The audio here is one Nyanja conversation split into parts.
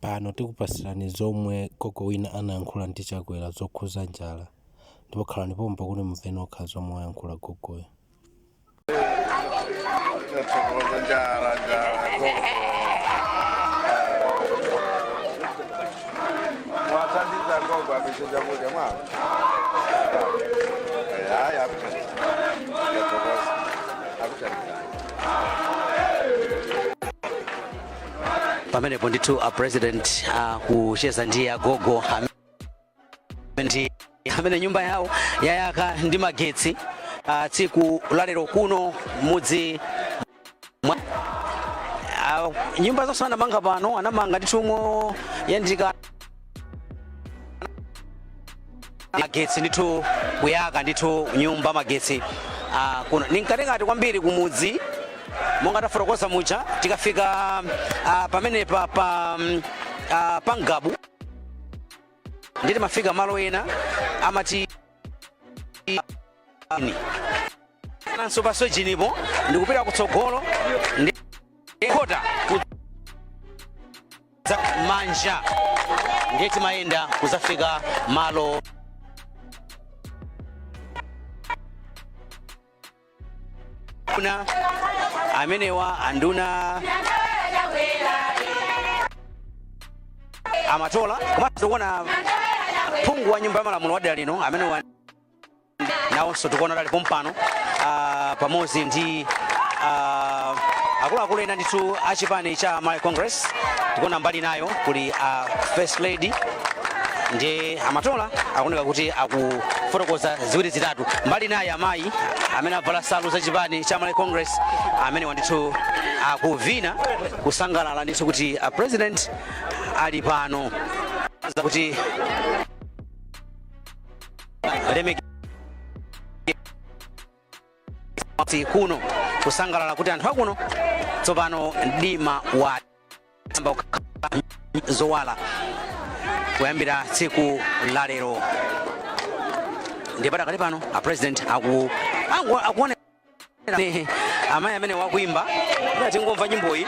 Pano tikupatsirani zomwe gogo wina anayankhula ndi Chakwera zokhuza njala ndipo khalani pompo kuti mumve nokha zomwe wayankhula gogoyo. Tathokoza njala njala gogo. Mwathandiza gogo aphike chakudya mwawo. Eh, Hayi akuthandiza. Tathokoza. Akuthandiza. pamenepo ndithu a president akucheza ndi agogo am- ndi amene nyumba yawo yayaka ndi magetsi ah, tsiku lalero kuno mudzi mwa ah, nyumba zonse anamanga pano anamanga ndithu yomwe yaikidwa magetsi ndithu kuyaka ndithu nyumba magetsi ah, kuno ndi mkatikati kwambiri kumudzi monga tafotokoza muja tikafika ah, pamenepa pa mm, ah, pa Ngabu ndiye timafika malo ena amati ah, ni. nanso pa Sorgin-po ndikupita kutsogolo ndi kukhota dzanja lamanja ndiye timayenda kuzafika malo ano amenewa anduna a Matola komanso kuona phungu wa nyumba ya malamulo wa dera lino amenewa nawonso tikuona kuti ali pompano ah, pamodzi ndi ah, akuluakulu ena ndithu a chipani cha Malawi Congress tikuona mbali inayo kuli ah, first lady ndi a Matola akuoneka kuti akufotokoza ziwiri zitatu mbali inayi amayi amene avala nsalu za chipani cha Malawi Congress amenewa ndithu akuvina kusangalala ndithu kuti a president ali pano kuti alemekeza kuno kusangalala kuti anthu akuno tsopano mdima auiwala kuyambira tsiku la lero ndiye padakali pano a president aku angu- akuonera amayi amenewa akuimba tingomva nyimboyi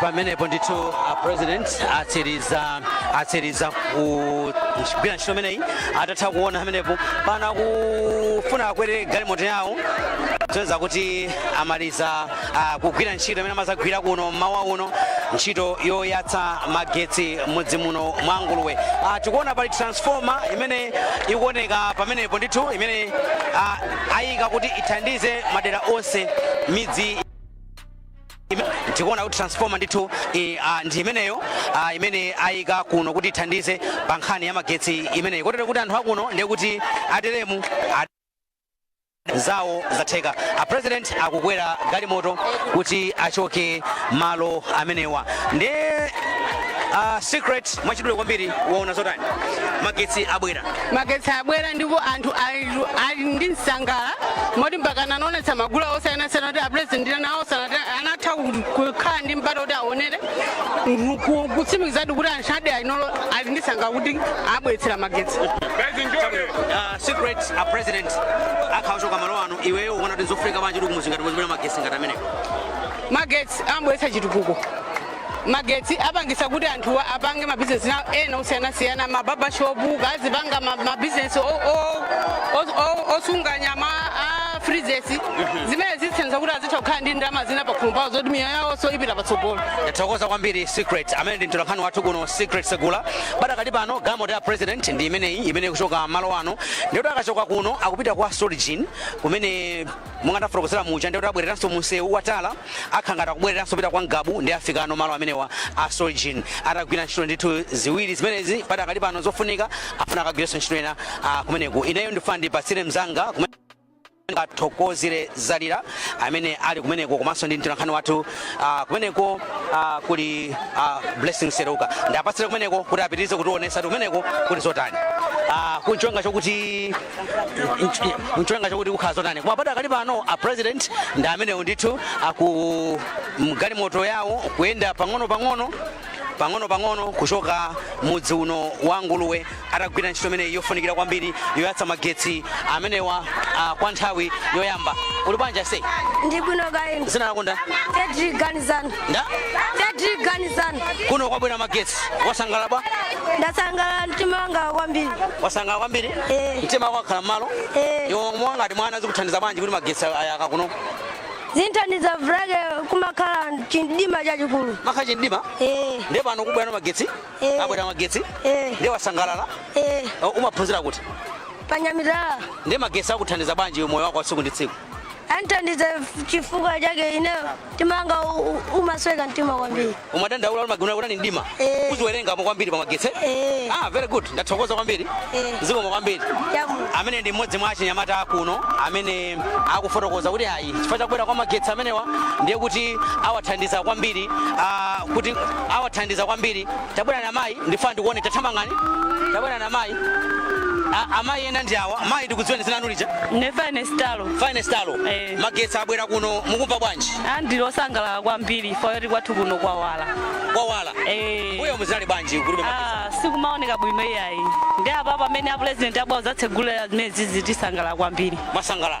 pamenepo ndithu a president atsiriza atsiriza kugwira ntchito imeneyi atatha kuona pamenepo pano akufuna akwere galimoto yawo zoonetsa kuti amaliza ah, kugwira ntchito imene amazagwira kuno mmawa uno ntchito yoyatsa magetsi mudzi muno mwa Nguluwe ah, tikuona pali transformer imene ikuoneka pamenepo ndithu imene ah, ayika kuti ithandize madera onse midzi tikuona kuti transformer ndithu eh, ah, ndi imeneyo ah, imene ayika kuno kuti ithandize pa nkhani ya magetsi imeneyi kotero kuti anthu akuno ndiye kuti ateremu zawo zatheka a president akukwera galimoto kuti achoke malo amenewa ndi uh, Secret mwachidule kwambiri waona zotani magetsi abwera magetsi abwera ndipo anthu ali- ali ndi nsangala moti mpaka anaonetsa magule osiyanasiyana kuti apresident nawonso anati anatha ku- kukhala ndi mpata kuti aonere mm, ku- kutsimikizadi kuti anthu adali ali nolo- ali ndi nsangala kuti abweretsera magetsi Uh, Secret a president akhala akuchoka malo ano iweyo ukuona kuti nzofunika bwanji kuti kumudzi ngati muno kuzibwera magetsi ngati amenewo magetsi amabweretsa chitukuko magetsi apangitsa kuti anthu apange mabizinesi nawo ena osiyanasiyana ma barbershop akazipanga ma- mabizinesi o- o- o- o- osunga nyama ma freezers zimene zithandiza kuti azitha kukhala ndi ndalama zina pakhomo pawo zoti miyoyo yawo nso ipita patsogolo tathokoza kwambiri Secret amene ndi mtolankhani wathu kuno Secret Segula Padakali pano galimoto ya president ndi imeneyi imene ikuchoka malo ano ndikuti akachoka kuno akupita kwa Sorgin kumene monga ndafotokozera muja ndikuti abwereranso munsewu wa tala akhala ngati akubwereranso kupita kwa Ngabu ndi afika ku malo amenewa a Sorgin atagwira ntchito ndithu ziwiri zimenezi padakali pano zofunika afuna akagwirenso ntchito ina ah, kumeneko ineyo ndifuna ndipatsire mzanga kumene Athokozire Zalira amene ali kumeneko komanso ndi mtolankhani wathu ah, kumeneko ah, kuli ah, Blessing Seruka ndiapatsire kumeneko kuti apitirize kutionetsa kuti kumeneko kuli zotani Ah, kuchionga chokuti nch- nchonga chokuti kukhala zotani koma padakali pano a president ndi amenewo ndithu ali mgalimoto yawo kuyenda pang'ono pang'ono pang'ono pang'ono kuchoka mudzi uno wa Nguluwe atagwira ntchito imeneyi yofunikira kwambiri yoyatsa magetsi amenewa ah, kwa nthawi yoyamba uli bwanji aise ndili bwino kaya inu dzina lako ndani Frederick Ganizani ndani Frederick Ganizani kuno kwabwera magetsi wasangalala bwa ndasangalala mtima wanga kwambiri wasangalala kwambiri Eh. mtima wako wakhala m'malo Eh. iwe monga ngati mwana zikuthandiza bwanji kuti magetsi ayaka kuno zinthandiza chifukwa chake kumakhala chimdima chachikulu kumakhala chimdima Eh. ndiye pano kubwera magetsi Eh. abwera magetsi Eh. ndiye wasangalala Eh, O, umaphunzira kuti pa Nyamitala ndiye magetsi akuthandiza bwanji moyo wako wa tsiku ndi tsiku anthandiza chifukwa chake ine mtima wanga umasweka mtima kwambiri umadandaula umagona kuti ndi mdima Eh. uziwerengano kwambiri pa magetsi Eh. ah very good ndathokoza kwambiri Eh. zikomo kwambiri chamu amene ndi mmodzi mwa achinyamata akuno amene akufotokoza kuti ayi chifukwa chakubwera kwa magetsi amenewa ndiye kuti awathandiza kwambiri ah, kuti awathandiza kwambiri tabwerani amayi ndifuna ndikuone tathamangani tabwerani amayi A- amayi ena ndi awa mayi tikudziweni dzina lanu lija nefane stalo finest alo Eh. magetsi abwera kuno mukumva bwanji ah ndili osangalala kwambiri chifukwa choti kwathu kuno kwawala kwawala Eh. m'mbuyomu zinali bwanji kulibe magetsi Ah, sikumaoneka bwino iyayi ndi apa pamene apulezidenti abwera kudzatsegulira zimenezizi tisangalala kwambiri mwasangalala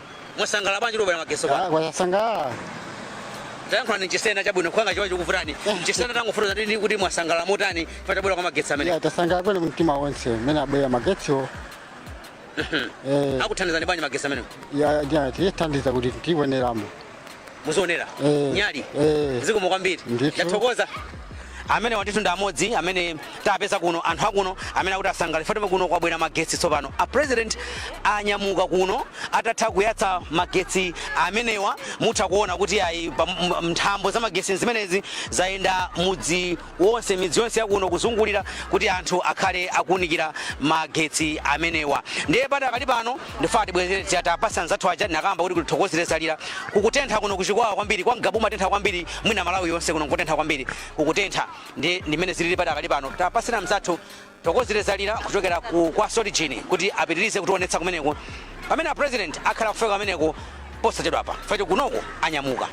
Mwasangala bwanji pobwera magetsi kwa? Ah, kwasangala. Tayankhulani chisena chabwino ngati chichewa chikuvutani. Chisena tangofotokozani kuti mwasangala motani pakubwera kwa magetsi amene. Ya tasangala kwene mtima wonse mene abwera magetsiwo. Eh, Akuthandizani bwanji magetsi amene. ya atithandiza kuti tiwoneramo. muzionera Eh. nyali Eh. zikomo kwambiri Ndithu. ndathokoza amenewa ndithu ndi amodzi amene tapeza kuno anthu akuno amene akuti asangalala chifukwa choti kuno kwabwera magetsi tsopano a president anyamuka kuno atatha kuyatsa magetsi amenewa mutha kuona kuti ayi pa- m- m- nthambo za magetsi zimenezi zayenda mudzi wonse, midzi yonse ya kuno kuzungulira, kuti anthu akhale akuunikira magetsi amenewa. Ndiye padakali pano ndifuna tibwezere tija tapasa anzathu aja tinakamba kuti kuli Thokozile Zalira kukutentha kuno ku chikwawa kwambiri kwa ngabu kumatentha kwambiri mwina malawi yonse kuno kukutentha kwambiri kukutentha ndi ndi mmene zilili padakali pano tapasira mzathu Thokozile Zalira kuchokera ku kwa Sorgin kuti apitilize kutionetsa kumeneko pamene a president akhala akufika kumeneko posachedwapa chifukwa choti kunoko anyamuka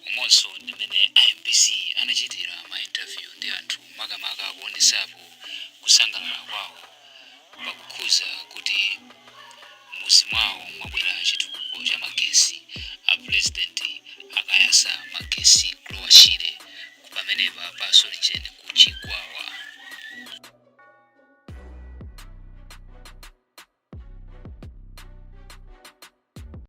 umonso ndi mmene a mbc anachitira ma interview ndi anthu makamaka kuonesapo kusangalala kwawo pakukhuza kuti mmuzi mwawo mwabwera chitukuko cha magesi a president akayasa magesi ku lower shire pamenepa pa Sorgin ku chikwawa